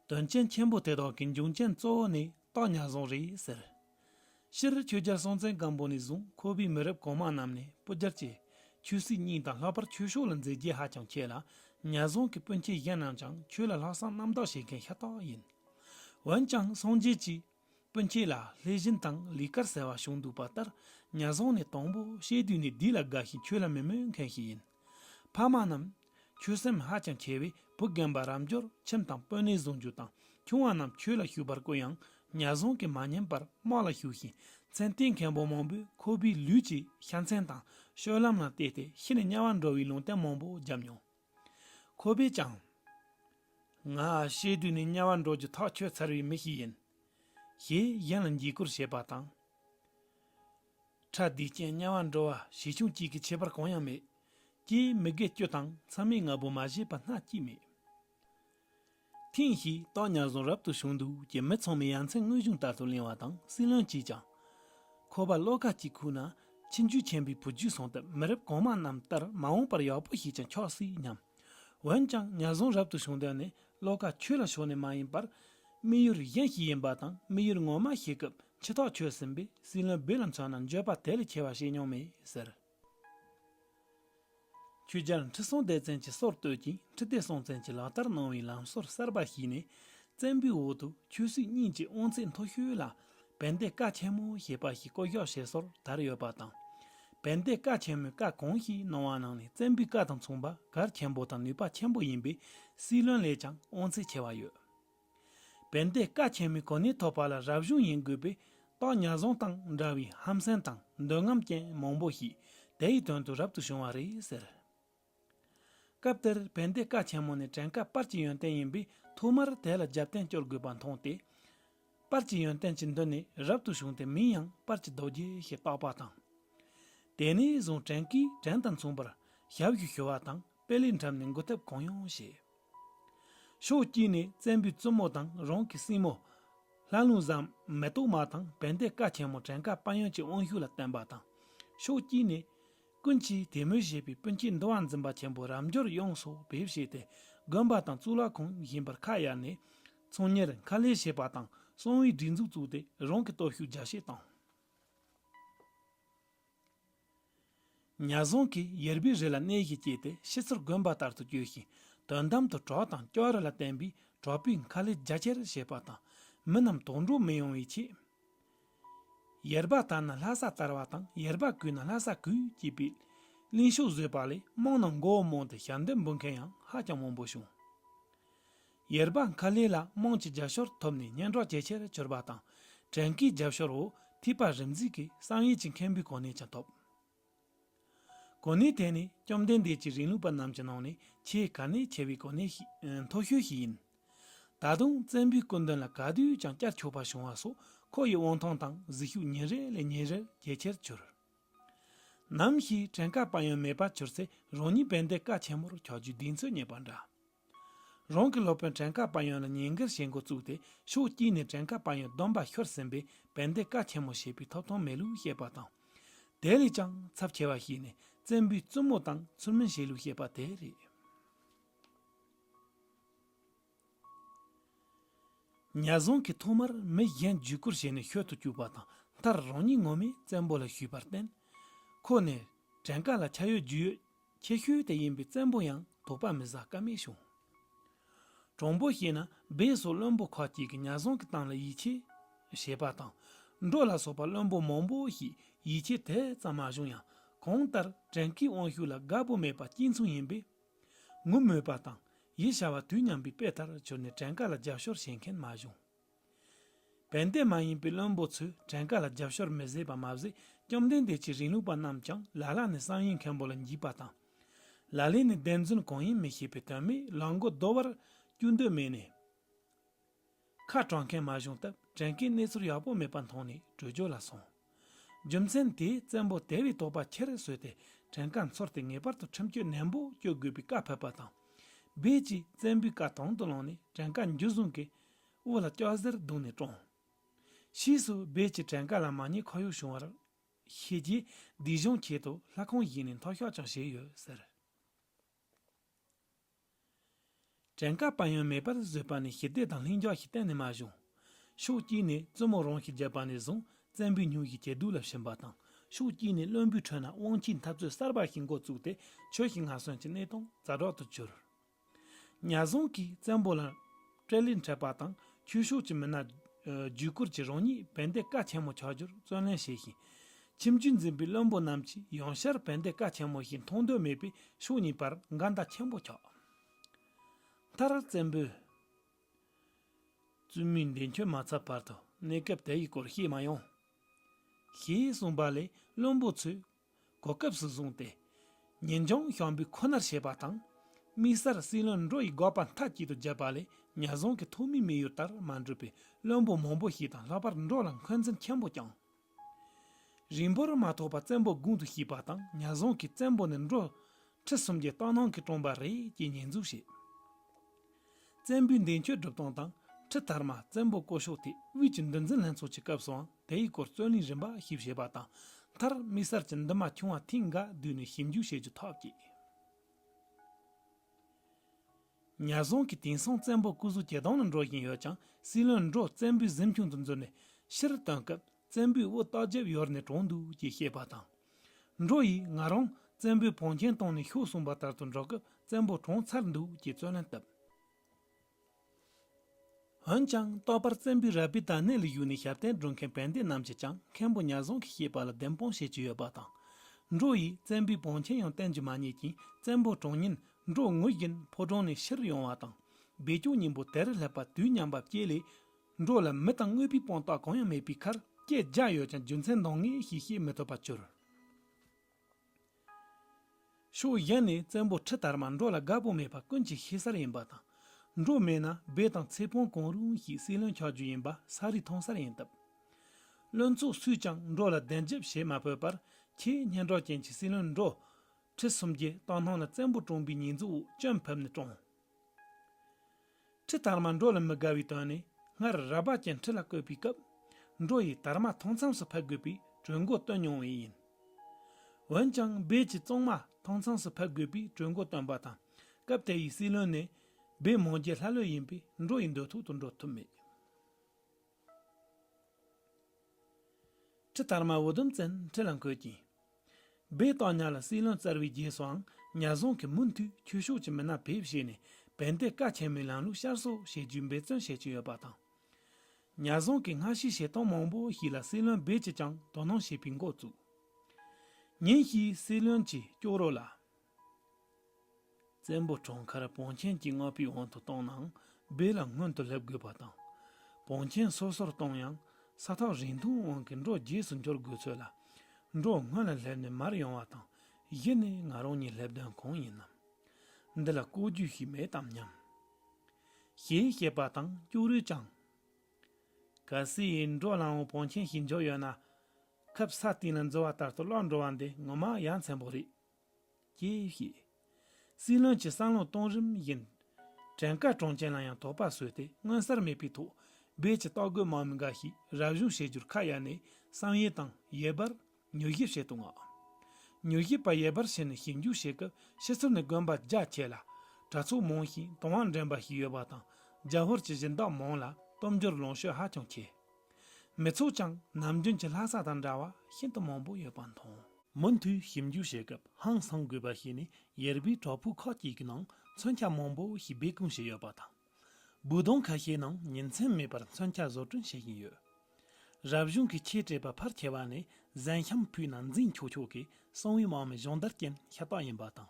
དོན་རྐྱེན་ཆེན་པོ་དེ་དག་གི་འབྱུང་རྐྱེན་གཙོ་བོ་ནི་སྟག་ཉག་རྫོང་རེད་ཟེར། སྤྱིར་ཆོས་རྒྱལ་སྲོང་བཙན་སྒམ་པོ་ནས་བཟུང་ཁོ་པའི་མི་རབས་གོང་མ་རྣམས་ནས་སྤུ་རྒྱལ་གྱི་ཆོས་སྲིད་གཉིས་དང་ལྷག་པར་ཆོས་ཕྱོགས་ལ་མཛད་རྒྱས་ཧ་ཅང་ཆེ་ལ་ཉག་རྫོང་གི་སྤུན་མཆེད་གཞན་རྣམས་ཀྱང་ཆོས་ལ་ལྷག་བསམ་རྣམ་དག་བྱེད་མཁན་ཤ་སྟག་ཡིན། འོན་ཀྱང་སངས་རྒྱས་ཀྱིས། སྤུན་ཁྱེད་ལ་ལྷས་བྱིན་དང་ལི་སྐར་ཟེར་བ་བྱུང་འདུག་པ་ལྟར་ཉར་བཟང་ནས་དང་པོ་བཤད་དུས་ནས་འདི་ལ་དགའ་ཞིང་ཁྱོད་ལ་མི་སྨོད་མཁན་ཞིག་ཡིན། ཕ་མ་རྣམས། ཁྱོད་སེམས་ཧ་ཅང་མཁས་པས་བུ་རྒན་པ་རབ་འབྱོར་ཁྱིམ་དང་དཔོན་གནས་བཟུང་རྒྱུ་དང་ཆུང་བ་རྣམས་ཁྱོད་ལ་ཞུགས་པར་བསྐོས་ཡང་ཉར་བཟང་གིས་མ་ཉན་པར་དམག་ལ་ཞུགས་ཤིང་མཚན་ལྟས་མཁན་པོ་མང་པོས་ཁོ་བོའི་ལུས་ཀྱི་ཤ་མཚན་དང་ཤོལ་ལམ་ལ་བལྟས་ཏེ་ཤི་ནས་དམྱལ་བར་འགྲོ་བའི་ལུང་བསྟན་མང་པོ་བརྒྱབ་མྱོང། ཁོ་པས་ཀྱང། ང་ཨ་ཤའི་དུས་ནས་དམྱལ་བར་འགྲོ་རྒྱུ་ཐག་ཆོད་ཚར་བའི་མི་ཞིག་ཡིན། ཞེས་གཞན་ལ་འགྱིག་སྐོར་བྱེད་པ་དང། ཁྲལ་དུས་ཅན་དམྱལ་བར་འགྲོ་བ་བྱེད་ཆུང་གཅིག་གི་ཁྱད་པར་གང་ཡང་མེད། ཀྱེ་མི་དགེ་སྐྱོ་དང་མཚམས་མེད་ང་བོ་མ་བྱས་པ་སྣ་གཅིག་མེད། ཐེངས་ཤིག་སྟག་ཉར་རྫོང་རབ་ཏུ་བྱུང་འདུག་ཀྱི་མི་ཚང་མས་ཡ་མཚན་དངོས་བྱུང་ལྟར་དུ་གླེང་བ་དང་སྲིད་བློན་གྱིས་ཀྱང། ཁོ་པ་བློ་དགའ་སྐྱིད་ཁུག་ན་ཁྱིམ་རྒྱུད་ཆེན་པོའི་བུ་རྒྱུད་སོང་སྟབས་མི་རབས་གོང་མ་རྣམས་ལྟར་མ་འོངས་པར་ཡག་པོ་ཞིག་ཀྱང་འཁྱོག་སྲིད་སྙམ། འོན་ཀྱང་ཉར་རྫོང་རབ་ཏུ་བྱུང་དོན་ནི་བློ་དགའ་ཁྱོད་ལ་ཕྱོགས་ནས་མ་ཡིན་པར། དམིགས་ཡུལ་གཞན་ཞིག་ཡིན་པ་དང་དམིགས་ཡུལ་ངོ་མ་ཤེས་སྐབས་འཆི་ཐག་ཆོད་ཟིན་པས་སྲིད་བློན་སྦིར་ལམ་ཚང་ན་འགྱོད་པ་དེ་ལས་ཆེ་བ་བྱེད་མྱོང་མེད་ཟེར། ཁྱོད་ཅག་ཁྲི་སྲོང་ལྡེ་བཙན་གྱི་སྲོག་བསྟོད་ཅིང་ཁྲི་ལྡེ་སྲོང་བཙན་གྱི་ལག་བསྟར་གནང་བའི་ལམ་སྲོལ་གསར་པ་བཤིག་ནས་བཙན་པོའི་འོག་ཏུ་ཁྱོད་སུས་སྙིང་རྗེ་དབང་ཚད་མཐོ་ཤོས་ལ་བན་དེ་བཀའ་ཆེན་མོ་ཞེས་པ་ཞིག་བསྐོ་གཞག་བྱེད་སྲོལ་དར་ཡོད་པ་དང། བན་དེ་བཀའ་ཆེན་མོའི་བཀའ་གང་ཞིག་གནང་བ་ནང་ནས་བཙན་པོའི་བཀའ་དང་མཚུངས་པ་གར་ཆེན་པོ་དང་ནུས་པ་ཆེན་པོ་ཡིན་པས་སྲིད་བློན་ལས་ཀྱང་དབང་ཚད་ཆེ་བ་ཡོད། བན་དེ་ཀ་ཆེན་མོའི་གོ་གནས་ཐོབ་པ་ལ་རབ་བྱུང་ཡིན་དགོས་པས་རྟགས་ཉར་བཟུང་དང་འདྲ་བའི་ཧམ་སེམས་དང་འདོད་རྔམ་ཅན་མང་པོ་ཞིག་དེའི་དོན་དུ་རབ་ཏུ་བྱུང་བ་རེད་ཟེར། སྐབས་དེར་བན་དེ་ཀ་ཆེན་མོ་ནི་བྲན་ཀ་སྤར་གྱི་ཡོན་ཏན་ཡིན་པས་ཐོག་མར་དེ་ལ་རྒྱབ་རྟེན་སྐྱོར་དགོས་པ་མཐོང་སྟེ། སྤར་གྱི་ཡོན་ཏན་གྱི་མདུན་ནས་རབ་ཏུ་བྱུང་སྟེ་མིང་ཡང་སྤར་གྱི་རྡོ་རྗེ་ཞེས་བཏགས་པ་དང། དེ་ནས་བཟུང་བྲན་ཀས་བྲན་དང་མཚུངས་པར་ཞབས་ཞུ་ཞུ་བ་དང་དཔེ་ལེགས་འགྲམ་ནས་འགུལ་ཐབས་གང་ཡང་བྱེད། ཕྱོགས་དཀྱིལ་ནས་བཙན་པོའི་བཙུན་མོ་དང་རང་གི་སྲིང་མོ། ལྷ་ལུང་བཟང་མེ་ཏོག་མ་དང་བན་དེ་བཀའ་ཆེན་མོ་བྲན་ཀ་དཔལ་ཡོན་གྱི་དབང་ཤུགས་ལ་བརྟེན་པ་དང། ཕྱོགས་དཀྱིལ་ནས། ཀུན་གྱིས་དད་མོས་བྱེད་པའི་སྤུན་མཆེད་འདུལ་བ་འཛིན་པ་ཆེན་པོ་རབ་འབྱོར་དབྱངས་སོགས་བེད་བྱས་ཏེ་དགོན་པ་དང་གཙུག་ལག་ཁང་བཞེངས་པར་ཁ་གཡར་ནས། ཚོང་གཉེར་མཁར་ལས་བྱེད་པ་དང་གསང་བའི་སྒྲིག་འཛུགས་བཙུགས་ཏེ་རང་གི་སྟོབས་ཤུགས་རྒྱ་ཆེར་བཏང། ཉག་རྫོང་གིས་ཡར་བུའི་རི་ལ་གནས་ཞིག་སྐྱེས་ཏེ་ཤི་ཚུར་དགོན་པ་ལྟར་དུ་བསྐྱོད་ཞིང་དོན་དམ་དུ་གྲོགས་དང་སྐྱོ་ར་ལ་བརྟེན་པའི་གྲོགས་པོའི་མཁའ་ལས་རྒྱ་ཆེར་བཞད་པ་དང་མི་རྣམས་དོགས་འདྲོག་མི་ཡོང་བའི་ཆེད། ཡར་བ་དར་ན་ལྷ་ས་དར་བ་དང་ཡར་བ་གུས་ན་ལྷ་ས་གུས་ཅེས་པའི་གླེང་ཕྱོགས་བཟོས་པ་ལས་དམངས་རྣམས་མགོ་བོ་རྨོངས་ཏེ་ཞབས་འདེབས་འབུལ་མཁན་ཡང་ཧ་ཅང་མང་པོ་བྱུང། ཡེར་བ་མཁར་ལེ་ལ་རྨོངས་ཀྱི་རྒྱབ་ཤོར་ཐོབ་ནས་སྙན་གྲོགས་ཇེ་ཆེར་གྱུར་པ་དང། བྲན་གྱི་རྒྱབ་ཤོར་འོག་ཐིས་པ་རིམ་འཛེགས་ཀྱིས་བསམ་ཡས་ཀྱི་མཁན་པོའི་གོ་གནས་ཀྱང་ཐོབ། གོ་གནས་དེ་ནི་བཅོམ་ལྡན་འདས་ཀྱི་རིང་ལུགས་པ་རྣམས་ཀྱི་ནང་ནས་ཆེས་གལ་གནད་ཆེ་བའི་གོ་གནས་མཐོ་ཤོས་ཤིག་ཡིན། ད་དུང་བཙན་པོའི་སྐུ་མདུན་ལ་ག་དུས་ཀྱང་བསྐྱར་ཆོས་པ་བྱུང་བ་སོགས་ཁོ་ཡི་དབང་ཐང་དང་གཟིགས་ཤུགས་ཉིན་རེ་ལས་ཉིན་རེར་ཇེ་ཆེར་གྱུར། ནམ་ཞིག་བྲན་ཁ་པ་ཡང་མེད་པར་གྱུར་ཚེ་རང་ཉིད་བན་དེ་ཀ་ཆེན་མོར་ཆགས་རྒྱུའི་གདེང་ཚོད་རྙེད་པ་འདྲ། རང་གི་སློབ་དཔོན་བྲན་ཁ་དཔའ་ཡོན་ལ་ཉེས་འགེལ་བྱེད་འགོ་བཙུགས་ཏེ་ཕྱོགས་དཀྱིལ་ནས་བྲན་ཁ་དཔའ་ཡོན་སྡོམ་པ་ཤོར་ཟིན་པས་བན་དེ་བཀའ་ཆེན་མོ་ཞེས་པའི་ཐོབ་ཐང་མེད་ལུགས་བཤད་པ་དང། དེ་ལས་ཀྱང་ཚབས་ཆེ་བ་ཞིག་ནི་བཙན་པོའི་བཙུན་མོ་དང་ཚུར་མིན་བྱས་ལུགས་བཤད་པ་དེ་རེད། ཉལ་བཟང་གིས་ཐོག་མར་མི་གཞན་བརྒྱུད་བསྐུར་བྱས་ནས་ཤོད་དུ་བཅུག་པ་དང་མཐར་རང་ཉིད་ངོ་མས་བཙན་པོ་ལ་ཞུས་པར་བརྟེན། ཁོ་ནི་བྲན་ཁ་ལ་ཆ་ཡོད་རྒྱུས་ཡོད་ཁྱད་ཤུལ་དེ་ཡིན་པའི་བཙན་པོ་ཡང་དོགས་པ་མི་ཟ་ཀ་མེད་བྱུང། གྲོང་པོ་ཞིག་ན་སྦས་སོགས་བློན་པོ་ཁག་ཅིག་གིས་གཉའ་ཟོང་གི་སྟངས་ལ་ཡིད་ཆེས་བྱེད་པ་དང། འབྲོག་ལ་སོགས་པ་བློན་པོ་མང་པོ་ཞིག་ཡིད་ཆེས་དེ་ཙམ་མ་བྱུང་ཡང་གང་ལྟར་བྲན་གྱི་དབང་ཤུགས་ལ་དགའ་པོ་མེད་པ་གཅིག་མཚུངས་ཡིན་པས། ངུ་སྨོད་པ་དང་ཡིད་ཤ་བ་དུས་མཉམ་པའི་དཔེ་ལྟར་གྱུར་ནས་བྲན་ཀ་ལ་རྒྱབ་ཤོར་བྱེད་མཁན་མ་བྱུང། བན་དེ་མ་ཡིན་པའི་བློན་པོ་ཚོས་བྲན་དཀའ་ལ་རྒྱབ་ཤོར་མི་བཟད་པ་མ་ཟད་བཅོམ་ལྡན་འདས་ཀྱི་རིང་ལུགས་པ་རྣམས་ཀྱང་ལ་ལ་ནས་གསང་ཡིག་མཁན་པོ་ལ་འཇིགས་པ་དང། ལ་ལས་ནི་བདེན་རྫུན་གང་ཡིན་མི་ཤེས་པའི་དོན་མེད་ལག་མགོ་རྡོལ་བར་སྐྱུར་འདོད་མེད་ནས། ཁ་དྲང་མཁན་མ་བྱུང་སྟབས་བྲན་དཀའི་གནས་ཚུལ་ཡག་པོ་མེད་པ་མཐོང་ནས་བྲོས་བྱོལ་ལ་སོང། རྒྱུ་མཚན་དེས་བཙན་པོ་དེ་བས་དོགས་པ་ཆེར་བཟོས་ཏེ་བྲན་དཀའ་འཚོར་ཏེ་ངེས་པར་དུ་ཁྲིམས་གཅོད་ནན་པོ་གཅོད་དགོས་པའི་བཀའ་ཕབ་པ་དང། རྦད་ཀྱིས་བཙན་པོའི་བཀའ་དང་དུ་བླངས་ནས་བྲན་དཀའ་འཇུ་བཟུང་གིས་དབུ་ལ་སྐྱག་གཟེར་བརྡུངས་ནས་བཀྲོངས། ཕྱིས་སུ་སྦས་ཀྱི་བྲན་ཀ་ལ་མ་ཉེས་ཁོར་ཡུག་བྱུང་བར་ཤེས་ཀྱིས་སྡིག་གཞུང་འཁྱེར་དུ་ལྷ་ཁང་བཞེངས་ནས་མཐོ་ཤོག་ཀྱང་བཞེས་ཡོད་ཟེར། བྲན་ཀ་དཔལ་ཡོན་མེད་པར་བཟོས་པ་ནི་ཞི་བདེ་དང་ལྷིང་འཇགས་ཤིག་གཏན་ནས་མ་བྱུང། ཕྱོགས་དཀྱིལ་ནས་བཙུན་མོ་རང་ཞིག་བརྒྱབ་པ་ནས་བཟུང་བཙན་པོའི་སྙུག་གི་གྱེས་རྡུལ་ལ་ཞུམ་པ་དང་ཕྱོགས་དཀྱིལ་ནས་བློན་པོའི་ཁྲོད་ན་དབང་ཁྱིའི་འཐབ་རྩོད་གསར་པ་ཞིག་མགོ་བཙུགས་ཏེ་ཆོས་ཞིག་ངག་སོན་གྱི་གནས་སྟངས་ཛ་དྲག་ཏུ་གྱུར། ཉར་བཟུང་གིས་བཙན་པོ་ལ་སྤྲེལ་ལད་འཕྲད་པ་དང་ཁྱུ་ཤོག་གྱི་མི་སྣ་བརྒྱུད་སྐོར་གྱིས་རང་ཉིད་བན་དེ་བཀའ་ཆེན་མོ་ཆགས་རྒྱུར་བརྩོན་ལེན་བྱས་ཤིང། ཁྱིམ་རྒྱུད་འཛིན་པའི་བློན་པོ་རྣམས་ཀྱིས་ཡང་བསྐྱར་བན་དེ་བཀའ་ཆེན་མོ་ཞིག་མཐོང་འདོད་མེད་པས་ཕྱོགས་གཉིས་བར་འགལ་ཟླ་ཆེན་པོ་ཆགས། མཐར་བཙན་པོས་བཙུན་མོའི་འདས་མཆོད་མ་ཚར་བར་དུ་གནས་སྐབས་དེ་ཡི་སྐོར་བཤད་མ་ཡོང། ཞེས་གསུངས་པ་ལས་བློན་པོ་ཚོས་གོ་སྐབས་སུ་བཟུང་སྟེ། ཉེན་ལྗོངས་ཞང་འབུད་ཁོ་ནར་བྱེད་པ་དང། དམིགས་བསལ་སྲིད་བློན་འགྲོ་ཡི་འགོག་པ་མཐའ་གཅིག་ཏུ་བརྒྱབ་པ་ལས་ཉར་བཟུང་གི་ཐོག་མའི་དམིགས་ཡུལ་ལྟར་མ་འགྲུབ་པའི་བློན་པོ་མང་པོ་ཞིག་དང་ལྷག་པར་འགྲོ་ལ་འཁོན་འཛིན་ཆེན་པོ་བསྐྱངས། རིང་པོར་མ་ཐོགས་པར་བཙན་པོ་དགུང་དུ་བཞུགས་པ་དང་ཉར་བཟུང་གིས་བཙན་པོ་ནི་འགྲོ་ཁྲི་སུམ་བརྒྱའི་རྟ་ནང་གི་སྤྲུངས་པ་རེད་ཅེས་ཉེས་འཛུགས་བྱས། བཙན་པོའི་འདས་མཆོད་སྒྲུབ་སྟངས་དང་ཁྲི་དར་མ་བཙན་པོ་བསྐོ་ཕྱོགས་དེ་དབུས་ཀྱི་འདུལ་འཛིན་ལྷན་ཚོགས་ཀྱི་སྐབས་སུའང་དེའི་སྐོར་རྩོད་གླེང་རིམ་པ་ཞིག་བྱས་པ་དང། མཐར་དམིགས་བསལ་གྱི་འདུན་མ་བྱུང་བ་ཐེངས་འགའ་བསྡུས་ནས་ཞིབ་འཇུག་བྱེད་རྒྱུ་ཐག་བཅད། ཉར་བཟུང་གིས་དེང་སང་བཙན་པོ་སྐུ་གཟུགས་ཇེ་དྭངས་ལ་འགྲོ་བཞིན་ཡོད་ཀྱང་སྲིད་བློན་འབྲོག་བཙན་པོའི་གཟིམ་ཆུང་དུ་འཛུལ་ནས་ཕྱིར་བཏོན་སྐབས། བཙན་པོའི་དབུ་རྟགས་རྒྱབ་ཡོར་ནས་དྲོངས་འདུག་ཅེས་བཤད་པ་དང། འགྲོ་ཡིས་ང་རང་བཙན་པོའི་བོན་ཆེན་བཏང་ནས་ཤོག་གསུངས་པ་ལྟར་དུ་འགྲོ་སྐབས་བཙན་པོ་དྲོངས་ཚར་འདུག་ཅེས་རྩོད་ལན་བཏབ། འོན་ཀྱང་རྟག་པར་བཙན་པོའི་རལ་པའི་དར་སྣེ་ལ་བཞུགས་ནས་ཞབས་བརྟན་སྒྲུབ་མཁན་བན་དེ་རྣམས་ཀྱིས་ཀྱང་མཁན་པོ་ཉག་བཟང་གིས་བཤད་པ་ལ་བདེན་དཔང་བྱེད་ཀྱི་ཡོད་པ་དང། འགྲོ་ཡིས་བཙན་པོའི་བོན་ཆེན་ཡང་བསྟན་གྱི་མ་རྙེད་ཅིང་བཙན་པོ་དྲོངས་ཉིན་འགྲོ་ངུ་བཞིན་ཕོ་བྲང་ནས་ཕྱིར་ཡོང་བ་དང། སྦས་སྐྱོང་སྙིང་པོ་དེར་སླེབས་པ་དུས་མཉམ་པ་བསྐྱེད་ལས། འགྲོ་ལ་མི་དང་དངོས་པོའི་སྤངས་རྟོགས་གང་ཡང་མེད་པའི་ཁར་སྐྱེས་རྒྱ་ཡོད་ཀྱང་རྒྱུ་མཚན་འདང་ངེས་ཤིག་ཤེས་མི་ཐུབ་པ་གྱུར། ཕྱོགས་གཞན་ནས་བཙན་པོ་ཁྲི་དར་མ་འགྲོ་ལ་དགའ་པོ་མེད་པ་ཀུན་གྱིས་ཤེས་གསལ་ཡིན་པ་དང། འགྲོ་མེད་ན་སྦས་དང་ཚེ་སྤོང་གང་རུང་ཞིག་སྲིད་བློན་ཆགས་རྒྱུ་ཡིན་པ་ས་རིས་མཐོང་གསལ་ཡིན་སྟབས། བློན་ཚོགས་སུས་ཀྱང་འགྲོ་ལ་བདེན་རྒྱབ་བྱེད་མ་ཕོད་པར་ཁྱེད་སྙན་གྲགས་ཅན་གྱི་སྲིད་བློན་འགྲོ། ཁྲི་སུམ་བརྒྱའི་རྟགས་སྣང་ལ་བཙན་པོ་བཀྲོངས་པའི་ཉེས་འཛུགས་འོག་གཅོད་ཕུབ་ནས་བཀྲོངས། ཁྲི་དར་མ་འབྲོ་ལ་མི་དགའ་བའི་དོན་ནི་སྔར་ར་བར་གྱི་ཁྲི་ལ་བསྐོས་པའི་སྐབས་འབྲོ་ཡིས་དར་མ་མཐོང་མཚམས་སུ་ཕེབས་དགོས་པའི་གྲོས་མགོ་བཏོན་མྱོང་བས་ཡིན། འོན་ཀྱང་སྦས་ཀྱིས་བཙོང་མ་མཐོང་མཚམས་སུ་ཕེབས་དགོས་པའི་གྲོས་མགོ་བཏོན་པ་དང་སྐབས་དེ་ཡི་སྲིད་བློན་ནི་སྦས་མོང་རྒྱལ་ལྷ་ལོས་ཡིན་པས་འབྲོ་ཡི་འདོད་ཐོག་ཏུ་འགྲོ་ཐུབ་མེད། ཁྲི་དར་མ་འུ་དུམ་བཙན་ཁྲི་ལ་འཁོད་ཅིང། སྦས་སྟག་ཉག་ལ་སྲིད་བློན་གཙར་བའི་རྗེས་སུའང་ཉག་རྫོང་གིས་མུ་མཐུད་ཁྱུ་ཤོག་ཀྱི་མི་སྣ་ཕེབས་བྱས་ནས་བན་དེ་ཀ་ཆེན་མོའི་ལམ་ལུགས་ཤར་གསོ་བྱེད་རྒྱུའི་འབད་བརྩོན་བྱེད་ཀྱི་ཡོད་པ་དང། ཉག་རྫོང་གི་སྔ་ཕྱིའི་བྱེད་སྟངས་མང་པོ་ཞིག་ལ་སྲིད་བློན་སྦས་ཀྱིས་ཀྱང་དོ་སྣང་བྱེད་པའི་འགོ་བཙུགས། ཉིན་ཞིག་སྲིད་བློན་གྱིས་སྐྱོ་རོགས་ལ། བཙན་པོ་གྲོང་ཁར་བོང་ཆེན་གྱི་རྔ་པའི་དབང་དུ་གཏོང་ནའང་སྦས་ལ་སྔོན་དུ་སླེབས་དགོས་པ་དང། བོང་ཆེན་སོ་སོར་གཏོང་ཡང་ས་ཐག་རིང་ཐུང་དབང་གིས་འབྲོག་རྗེས་སུ་འབྱོར་དགོས་ཚོད་ལ། འབྲོག་སྔོན་ལ་སླེབས་ནས་མར་ཡོང་བ་དང་གཞི་ནས་ང་རང་ཉིད་སླེབས་དོན་གང་ཡིན་ནམ། འདི་ལ་ལྐོག་ཇུས་ཤིག་མེད་དམ་སྙམ། ཞེས་བཤད་པ་དང་སྐྱུག་རུས་བཅངས། གལ་སྲིད་འབྲོག་ལམ་འོག་བོང་ཆེན་ཞིག་འབྱོར་ཡོད་ན། ཁབ་ས་སྟེང་ལ་འཛུལ་བ་ལྟར་དུ་སློག་འགྲོ་བ་འདི་ངོ་མ་ཡ་མཚན་པོ་རེད། ཀྱིས་བཤད། སྲིད་བློན་གྱི་བསམ་བློ་གཏོང་རིམ་བཞིན། བྲན་དཀར་གྲོང་ཁྱེར་ལ་ཡང་དོགས་པ་བཟོས་ཏེ་མངོན་གསལ་མེད་པའི་ཐོག་སྦས་ཀྱི་རྟོག་རྒོལ་མང་མི་འགའ་ཞིག་རབ་བཞུགས་བྱེད་རྒྱུར་ཁ་གཡར་ནས་བསམ་ཡས་དང་ཡེར་པར་མྱུལ་ཞིབ་བྱེད་དུ་མངགས། མྱུལ་ཞིབ་པ་ཡེར་པར་ཕྱིན་ནས་ཞིབ་འཇུག་བྱེད་སྐབས་ཕྱི་ཚུལ་ནི་དགོན་པ་རྒྱ་ཆེ་ལ་གྲྭ་ཚོགས་མང་ཞིང་དུང་བ་འདྲེན་པ་ཞིག་ཡོད་པ་དང་རྒྱ་ཧོར་གྱི་གཞི་བདག་མང་ལ་སྟོབས་འབྱོར་ལོངས་སྤྱོད་ཧ་ཅང་ཆེ། མི་ཚོགས་ཀྱང་ནམ་རྒྱུན་གྱི་ལྷ་ས་དང་འདྲ་བ་ཤིན་ཏུ་མང་པོ་ཡོད་པ་མཐོང། མུ་མཐུད་ཞིབ་འཇུག་བྱེད་སྐབས་ཧང་སངས་དགོས་པ་ཞིག་ནི་ཡེར་བུའི་བྲག་ཕུག་ཁག་ཅིག་གི་ནང་མཚོན་ཆ་མང་པོ་ཞིག་སྦས་སྐུང་བྱས་ཡོད་པ་དང། འབུད་སྡོང་ཁ་ཤས་ནང་ཉིན་མཚན་མེད་པར་མཚོན་ཆ་བཟོ་སྐྲུན་བྱེད་བཞིན་ཡོད། རབ་བྱུང་གི་ཆེས་དྲེགས་པ་ཕར་ཆེ་བ་ནི་གཟན་ཤམ་ཕུའི་ནང་འཛིང་ཆོག་ཆོག་གི་གསང་བའི་དམག་མི་གཞོན་དར་ཅན་ཤ་སྟག་ཡིན་པ་དང།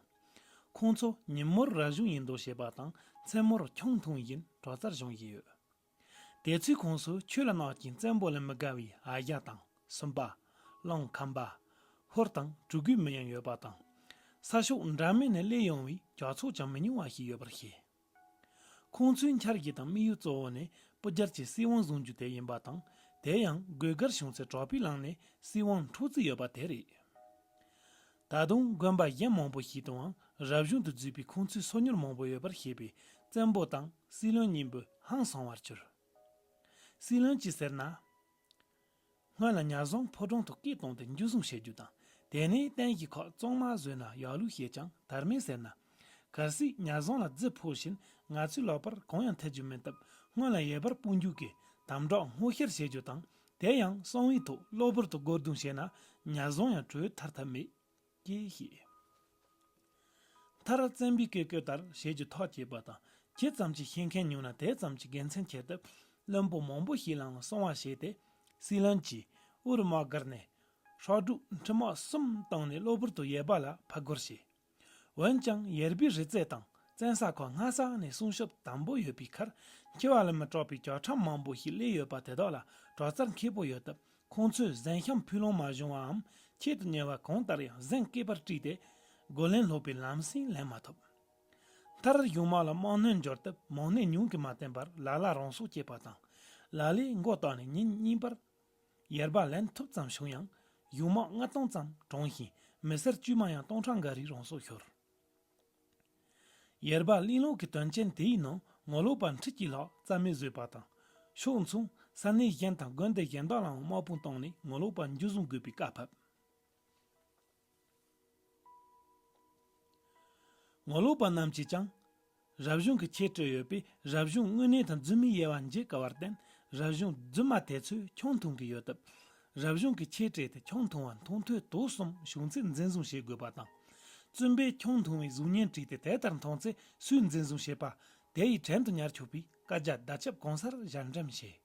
ཁོང་ཚོ་ཉིན་མོར་རབ་བྱུང་ཡིན་མདོག་བྱེད་པ་དང་མཚན་མོར་ཁྱང་འཐུང་བཞིན་དྲོ་རྩར་བཞོན་བཞིན་ཡོད། དེ་ཚོའི་ཁོངས་སུ་ཆོས་ལ་གནག་ཅིང་བཙན་པོ་ལ་མི་དགའ་བའི་ཨ་ཞང་དང་སུམ་པ། གླང་ཁམས་པ། ཧོར་དང་གྲུ་གུའི་མི་ཡང་ཡོད་པ་དང། ས་ཕྱོགས་འདྲ་མིན་ནས་སླེབས་ཡོང་བའི་ཇག་ཚོགས་ཀྱང་མི་ཉུང་བ་ཞིག་ཡོད་པར་བཤད། ཁོང་ཚོའི་འཆར་གཞི་དང་དམིགས་ཡུལ་གཙོ་བོ་ནི་པུ་རྒྱལ་གྱི་སྲིད་དབང་བཟུང་རྒྱུ་དེ་ཡིན་པ་དང་དེ་ཡང་སྒོས་སྒར་གཞུང་ཚེ་གྲོགས་པའི་ལངས་ནས་སྲིད་དབང་འཕྲོག་རྩིས་ཡོད་པ་དེ་རེད། ད་དུང་དགོན་པ་གཞན་མང་པོ་ཞིག་ཏུའང་རབ་བྱུང་དུ་བརྫུས་པའི་ཁུངས་ཚུལ་སོ་མྱུར་མང་པོ་ཡོད་པར་བཤད་པས་བཙན་པོ་དང་སྲིད་བློན་གཉིས་འབུཧང་སོང་བར་གྱུར། སྲིད་བློན་གྱིས་ཟེར་ན། སྔོན་ལ་ཉར་བཟང་ཕོ་བྲང་དུ་སྐད་བཏང་སྟེ་འཇུ་བཟུང་བྱེད་རྒྱུ་དང་དེ་ནས་བསྟན་བཞི་ཁག་གཙང་མ་བཟོས་ན་ཡག་ལུགས་བཤད་ཀྱང་དར་མས་ཟེར་ན། གལ་སྲིད་ཉར་བཟང་ལ་རྫི་ཕོ་བཞིན་ང་ཚོའི་ལག་པར་གང་ཡང་ཐེབས་རྒྱུ་མིན་སྟབས་སྔོན་ལ་ཡལ་བར་སྤོ་འཇུག་གིས་དམ་བསྒྲགས་སྔོག་བཤེར་བྱེད་རྒྱུ་དང་དེ་ཡང་གསང་བའི་ཐོག་གློ་བུར་དུ་སྒོར་རྡུང་བྱས་ན་ཉར་བཟང་ཡང་གྲོལ་ཐར་ཐབས་མེད། ཀྱེ་ཞེས། མཐར་བཙན་པོའི་བཀས་བཀོད་ལྟར་བྱེད་ཀྱི་ཐག་བཅད་པ་དང་ཇི་ཙམ་གྱིས་ཤེས་མཁན་ཉུང་ན་དེ་ཙམ་གྱིས་དགེ་མཚན་ཁྱེར་སྟབས་བློན་པོ་མང་པོ་ཞིག་ལའང་གསང་བ་བྱས་ཏེ་སྲིད་བློན་གྱིས་དབུར་དམག་བསྒར་ནས་ཧྲག་སྒྲུག་འཕྲུལ་དམག་གསུམ་བཏང་ནས་གློ་བུར་དུ་ཡལ་བ་ལ་ཕར་རྒོལ་བྱས། འོན་ཀྱང་ཡེར་པི་རི་རྩེ་དང་བཙན་ས་ཁོ་སྔ་ས་ནས་སྲུང་སྐྱོབ་དམ་པོ་ཡོད་པའི་ཁར་འཁྱིལ་བ་ལ་མི་སྐྲག་པའི་བཅའ་ཁྲིམས་མང་པོ་ཞིག་བསླེས་ཡོད་པ་དེ་དག་ལ་པྲོག་རྩར་མཁས་པོ་ཡོད་སྟབས་ཁོང་ཚོས་གཟན་ཤམ་ཕུད་ལོང་མ་བྱུང་བའམ་ཁྱད་དུ་ཉེ་བ་གང་ལྟར་ཡང་གཟན་སྐེད་པར་དཀྲིས་ཏེ་རྒོལ་ལན་སློག་པའི་ལམ་སེང་ལེན་མ་ཐུབ། མཐར་གཞུང་དམག་ལ་དམག་སྣོན་འབྱོར་སྟབས་མང་ནད་ཉུང་གིས་མ་བསྟེན་པར་ལ་ལ་རང་སྲོག་བཅད་པ་དང། ལ་ལས་མགོ་བཏགས་ནས་ཉིན་གཉིས་པར། ཡར་བར་ལན་ཐུབ་ཙམ་བྱུང་ཡང་གཞུང་དམག་ལྔ་སྟོང་ཙམ་གྲོངས་ཤིང་མི་སེར་དཀྱུས་མ་ཡང་སྟོང་ཕྲག་འགའ་རེ་རང་སྲོག་ཤོར། ཡར་བར་གླིང་ལོག་གི་དོན་རྐྱེན་དེའི་ནང་ངོ་ལོག་པ་འཁྲིད་ཀྱི་ལག་རྩལ་མི་བཟོད་པ་དང། ཕྱོགས་མཚུངས་ས་གནས་གཞན་དང་དགོན་སྡེ་གཞན་དག་ལའང་དམག་དཔུང་བཏང་ནས་ངོ་ལོག་པ་འཇུ་བཟུང་དགོས་པའི་བཀའ་ཕབ། ངོ་ལོག་པ་རྣམས་ཀྱིས་ཀྱང། རབ་བྱུང་གི་ཁྱད་ཆོས་ཡོད་པས་རབ་བྱུང་དངོས་གནས་དང་རྫུན་མི་དབྱེ་བ་འབྱེད་དཀའ་བར་བརྟེན་རབ་བྱུང་རྫུན་མ་དེ་ཚོས་ཁྱོད་མཐོང་གི་ཡོད་སྟབས། རབ་བྱུང་གི་ཁྱད་ཆོས་དེ་ཁྱོད་མཐོང་བ་མཐོང་ཐོས་དོགས་གསུམ་བྱུང་ཚེ་འཛིན་བཟུང་བྱེད་དགོས་པ་དང། བཙུན་པས་ཁྱོད་མཐོང་བའི་གཟུགས་བརྙན་བྲིས་ཏེ་དེ་ལྟར་མཐོང་ཚེ་སུས་འཛིན་བཟུང་བྱེད་པ། དེ་ཡི་བྲན་དུ་ཉར་ཆོག་པའི་བཀའ་རྒྱ་བདག་ཆབ་གང་སར་གཞལ་འགྲེམས་བྱས།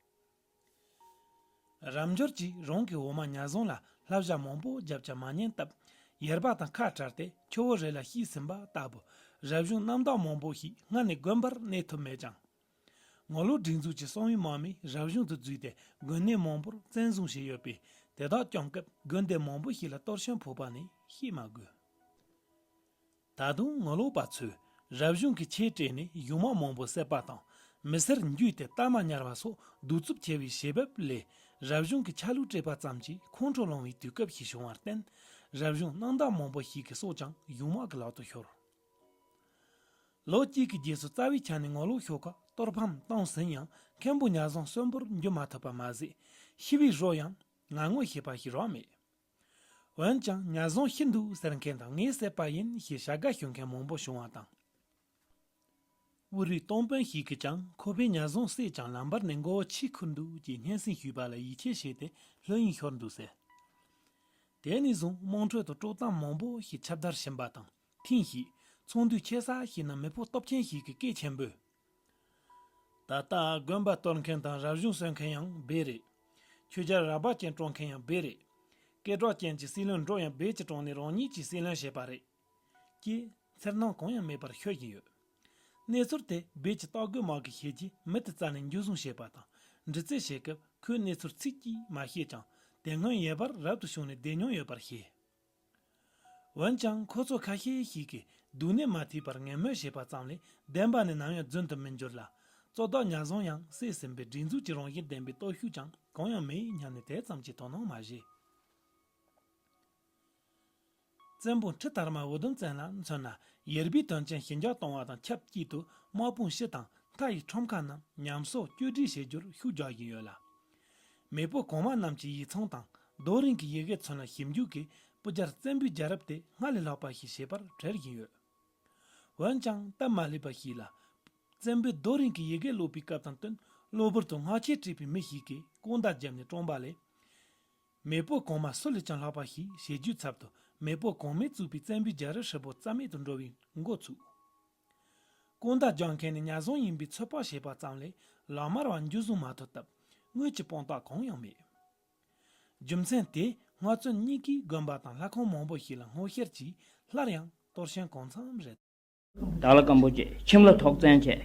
རབ་འབྱོར་གྱིས་རང་གི་འོ་མ་ཉར་བཟུང་ལ་ལྷ་བཞག་མང་པོ་བརྒྱབ་ཀྱང་མ་ཉན་སྟབས། ཡར་བབས་དང་ཁ་བྲལ་ཏེ་ཁྱོ་བོ་རེ་ལ་ཤི་ཟིན་པ་ལྟ་བུ། རབ་གཞུང་རྣམ་དག་མང་པོ་ཞིག་སྔར་ནས་དགོན་པར་གནས་ཐུབ་མེད་ཀྱང། ངོ་ལོག་སྒྲིག་འཛུགས་ཀྱི་གསང་བའི་དམག་མིས་རབ་གཞུང་དུ་འཛུལ་ཏེ་དགོན་གནས་མང་པོར་བཙན་བཟུང་བྱས་ཡོད་པས་དེ་དག་བསྐྱངས་སྐབས་དགོན་སྡེ་མང་པོ་ཞིག་ལ་གཏོར་ཤོམ་ཕོག་པ་ནི་བཤད་མ་དགོས། ད་དུང་ངོ་ལོག་པ་ཚོས་རབ་བྱུང་གི་ཆས་སྤྲས་ནས་གཞུང་མང་མང་པོ་བསད་པ་དང་མི་སེར་འཇུས་ཏེ་རྟ་མ་ཉར་བ་སོགས་གདུག་རྩུབ་ཆེ་བའི་བྱེད་བབས་ལས་རབ་བྱུང་གི་ཆ་ལུགས་སྤྲས་པ་ཙམ་གྱིས་ཁོང་ཁྲོ་སློང་བའི་དུས་སྐབས་ཤིག་བྱུང་བར་བརྟེན་རབ་བྱུང་གནང་བདག་མང་པོ་ཞིག་གི་སྲོག་ཀྱང་གཞུང་དམག་གི་ལག་ཏུ་ཤོར། ལོ་གཅིག་གི་རྗེས་སུ་རྩ་བའི་ཆ་ནས་ངོ་ལོག་ཤོག་ཁག་གཏོར་ཕམ་བཏང་ཟིན་ཡང་མཁན་པོ་གཉའ་བཟང་གསོན་པོར་འགྱུར་མ་ཐུབ་པ་མ་ཟད་ཤི་བའི་རོ་ཡང་ང་ངོ་ཤེས་པ་ཞིག་རག་མེད། འོན་ཀྱང་ཉར་བཟང་ཤི་འདུག་ཟེར་མཁན་དང་ངས་བསད་པ་ཡིན་ཞེས་བྱ་དགའ་ཞུ་མཁན་མང་པོ་བྱུང་བ་དང། དབུས་རིགས་སྟོང་དཔོན་ཞིག་གིས་ཀྱང་ཁོ་པས་ཉར་བཟང་བསད་ཀྱང་ལམ་བར་ནས་མགོ་བོ་ཕྱིར་ཁུར་འདུག་ཅེས་སྙན་སེང་ཞུས་པ་ལ་ཡིད་ཆེས་བྱས་ཏེ་ལྷོད་གཡེང་ཤོར་འདུག་ཟེར། དེ་ནས་བཟུང་དམངས་ཁྲོད་དུ་དཀྲོག་གཏམ་མང་པོ་ཞིག་ཁྱབ་བརྡལ་ཕྱིན་པ་དང་ཐེངས་ཤིག་ཚོང་འདུས་ཆེ་ས་ཞིག་ན་མི་ཕོ་སྟོབས་ཆེན་ཞིག་གིས་སྐད་ཆེན་པོས། ད་ལྟ་དགོན་པ་གཏོར་མཁན་དང་རབ་བྱུང་གསོལ་མཁན་ཡང་སྦས་རེད། ཆོས་རྒྱལ་རགས་པ་ཅན་བཀྲོངས་མཁན་ཡང་སྦས་རེད། སྐད་གྲོགས་ཅན་གྱི་སྲིད་བློན་འགྲོ་ཡང་སྦས་ཀྱི་བཀྲོངས་ནས་རང་ཉིད་ཀྱི་སྲིད་བློན་བྱས་པ་རེད། ཀྱིས་འཚེར་སྣང་གང་ཡང་མེད་པར་ཤོད་བཞིན་ཡོད། གནས་ཚུལ་དེ་སྦས་ཀྱི་རྟགས་འགོད་མང་གི་ཤེས་ཀྱི་མི་དེ་རྩ་ནས་འཇུ་བཟུང་བྱས་པ་དང་འདྲི་རྩད་བྱེད་སྐབས་ཁོས་གནས་ཚུལ་ཚིག་གིས་མ་བཤད་ཀྱང་དེ་སྔོན་ཡལ་བར་རབ་ཏུ་བྱུང་ནས་བསྡད་མྱོང་ཡོད་པར་ཤེས། འོན་ཀྱང་ཁོ་ཚོ་ཁ་ཤས་ཤིག་གིས་སྡུག་ནད་མ་ཐེག་པར་ངན་སྨོད་བྱས་པ་ཙམ་ལས་བདེན་པ་ནི་ནམ་ཡང་རྫུན་དུ་མི་འགྱུར་ལ། གཙོ་བདག་ཉག་རྫོང་ཡང་སྲིད་ཟིན་པའི་སྒྲིག་འཛུགས་ཀྱི་རང་བཞིན་ལྡན་པའི་སྟོབས་ཤུགས་ཀྱང་གང་ཡང་མེད་སྙམ་ནས་དེ་ཙམ་གྱིས་དོ་སྣང་མ་བྱས། བཙན་པོ་ཁྲི་དར་མ་འུ་དུམ་བཙན་ལ་མཚོན་ན་ཡེར་པའི་དོན་ཆེན་ཞི་འཇགས་གཏོང་བ་དང་ཆབས་ཅིག་ཏུ་དམག་དཔུང་ཕྱི་དང་མཐའ་ཡི་ཁྲོམ་ཁ་རྣམས་ཉམས་གསོ་བཅོས་སྒྲིག་བྱེད་རྒྱུར་ཤུགས་རྒྱག་བཞིན་ཡོད་ལ། མེས་པོ་གོང་མ་རྣམས་ཀྱི་ཡིག་ཚང་དང་རྡོ་རིང་གི་ཡི་གེ་ཚོན་ལ་ཞིབ་འཇུག་གིས་སྤུ་རྒྱལ་བཙན་པོའི་རྒྱལ་རབས་དེ་སྔར་ལས་ལྷག་པ་ཞིག་བྱས་པར་བྲེལ་བཞིན་ཡོད། འོན་ཀྱང་སྟབས་མ་ལེགས་པ་ཞིག་ལ། བཙན་པོས་རྡོ་རིང་གི་ཡི་གེ་ཀློག་པའི་སྐབས་དང་བསྟུན་གློ་བུར་དུ་སྔགས་ཆས་བྲིས་པའི་མི་ཞིག་གིས་ཀུན་ད་བརྒྱབ་ནས་བཀྲོངས་པ་ལས། མེས་པོ་གོང་མ་སུ་ལས་ཀྱང་ལྷག་པ་ཞིག་བྱེད་རྒྱུའི་ཚབ་ཏུ་མེས་པོ་གོང་མས་བཙུགས་པའི་བཙན་པོའི་རྒྱལ་རབས་ཧྲིལ་པོ་རྩ་མེད་དུ་འགྲོ་བའི་འགོ་ཚུགས། དཀོན་དགྲ་རྒྱག་མཁན་ནི་གཉའ་ཟུང་ཡིན་པའི་ཚོད་དཔག་བྱས་པ་ཙམ་ལས་ལག་དམར་བ་འཇུ་བཟུང་མ་ཐུབ་སྟབས་དངུལ་གྱི་དཔང་རྟགས་གང་ཡང་མེད། རྒྱུ་མཚན་དེས་ནག་བཙོན་གཉིས་ཀྱིས་དགོན་པ་དང་ལྷ་ཁང་མང་པོ་ཞིག་ལ་སྔོ་བཤེར་གྱིས་སླར་ཡང་གཏོར་ཞེན་གང་འཚམས་རེ། དར་ལ་སྐམ་པོ་བཅས་ཁྱིམ་ལ་ཐོག་བཙན་བྱས།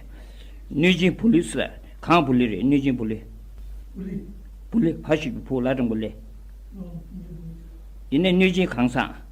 གནོད་སྦྱིན་བུ་ལུས་སུ། གང་བུ་ལུས་རེད་གནོད་སྦྱིན་བུ་ལུས། བུ་ལུས། བུ་ལུས་ཕ་ཞིག་གི་བུ་ལ་དྲང་པོ་ལས། དེ་ནས་གནོད་སྦྱིན་གང་བཟང།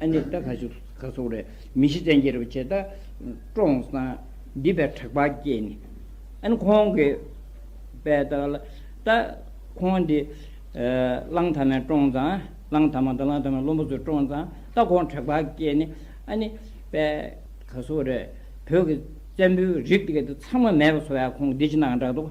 ཨ་ནི་ད་ག་ཞིག་ག་སོགས་རེ་མི་ཤེས་བཙན་གྱིས་རེ་བ་བྱས་ད་བཀྲོངས་སང་འདི་པའི་དྲེགས་པ་སྐྱེས་ནས་ཨ་ནི་ཁོང་གི་པའི་ད་ག་ལ་ད་ཁོང་འདི་གླང་དར་མས་བཀྲོངས་སང་གླང་དར་མ་ད་གླང་དར་མའི་བློན་པོ་ཚོས་བཀྲོངས་སང་ད་ཁོང་དྲེགས་པ་སྐྱེས་ནས་ཨ་ནི་པའི་ག་སོགས་རེ་བོད་ཀྱི་བཙན་པོའི་རིགས་དེ་ག་དེ་ཚང་མ་མེད་པ་སོ་བས་ཁོང་གི་འདི་ཅི་གནང་ག་འདྲ་ག་འདུག།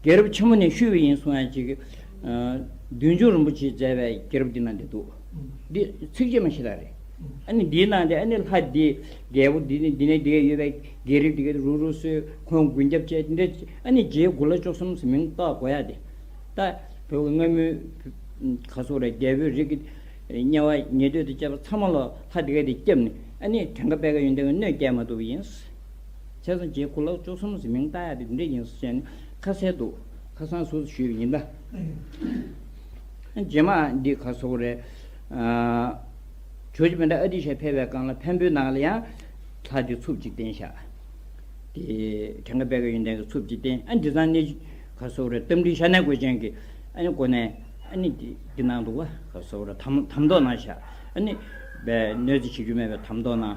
རྒྱལ་རབས་ཆེན་མོ་ནས་ཤུལ་བའི་ཡིན་གསུང་ཡང་ཅིག། བདུན་ཅུ་རིན་པོ་ཆེས་མཛད་པའི་རྒྱལ་རབས་འདི་ན་འདི་འདུག། འདི་ཚིགས་བཅད་མ་ཞིག་ལ་རེད། ཨ་ནི་འདིའི་ནང་དུ་ཨ་ནི་ལྷ་འདི་རྒྱལ་པོ་འདི་ནི་འདི་ནས་འདི་ག་ཡོད་པའི་རྒྱལ་རིགས་འདི་ག་རུ་རུ་སུ་ཁོང་དགུན་སྐྱབས་བཅས་འདི་འདྲ་ཨ་ནི་རྗེའི་དགུ་ལ་བཅུ་གསུམ་ཟེར་མིང་བཏགས་དགོས་ཡ་དེ། ད་བོད་ཀྱི་སྔ་མོའི་ག་སོག་ར་རྒྱལ་པོའི་རིགས་ཀྱི་དམྱལ་བ་ཉེ་དུས་དུ་སྐྱེས་པ་ཚང་མ་ལ་ལྷ་འདི་ག་འདི་སྐྱབས་ནི་ཨ་ནི་དེང་ག་དཔལ་ག་ཡོན་ཏན་གྱི་སྣོད་སྐྱེས་མ་ཐུབ་པ་ཡིན། ཚེ་སངས་རྒྱས་གུ་ལག་བཅུ་གསུམ་གྱི་མིང་བཏགས་ཡག་དེ་འདི་འདྲས་ཡིན་ཟེར་བཤད་ནས་ཁ་གསལ་འདུག་ཁ་སང་སུ་ཞུས་པ་ཡིན་ད། རྗེས་མ་འདི་ག་སོག་རེད། བྱོས་ཀྱི་བོན་དགྲ་ཨ་ཏི་ཤ་ཕལ་བའི་སྒང་ལ་བན་བོན་ནང་ལ་ཡང། ལྷ་དེ་འཚུབ་ཅིག་བསྟན་ཤག། དེ་བྲང་ཁ་པད་ཀ་ཡོན་ཏན་གྱི་འཚུབ་ཅིག་བསྟན་ཨ་འདི་ཚང་གནས་ག་སོག་རེད་གཏམ་འདྲི་ཤ་གནད་གོས་ཅན་གྱི་ཨ་ནི་གོ་ནས་ཨ་ནི་འདི་ནང་འདུག་ག་སོག་རེད་དམ་མདོག་ནང་ཤག་ཨ་ནི། བས་གནོད་འཚེ་བྱེད་རྒྱུ་མེད་པའི་དམ་མདོག་ནང།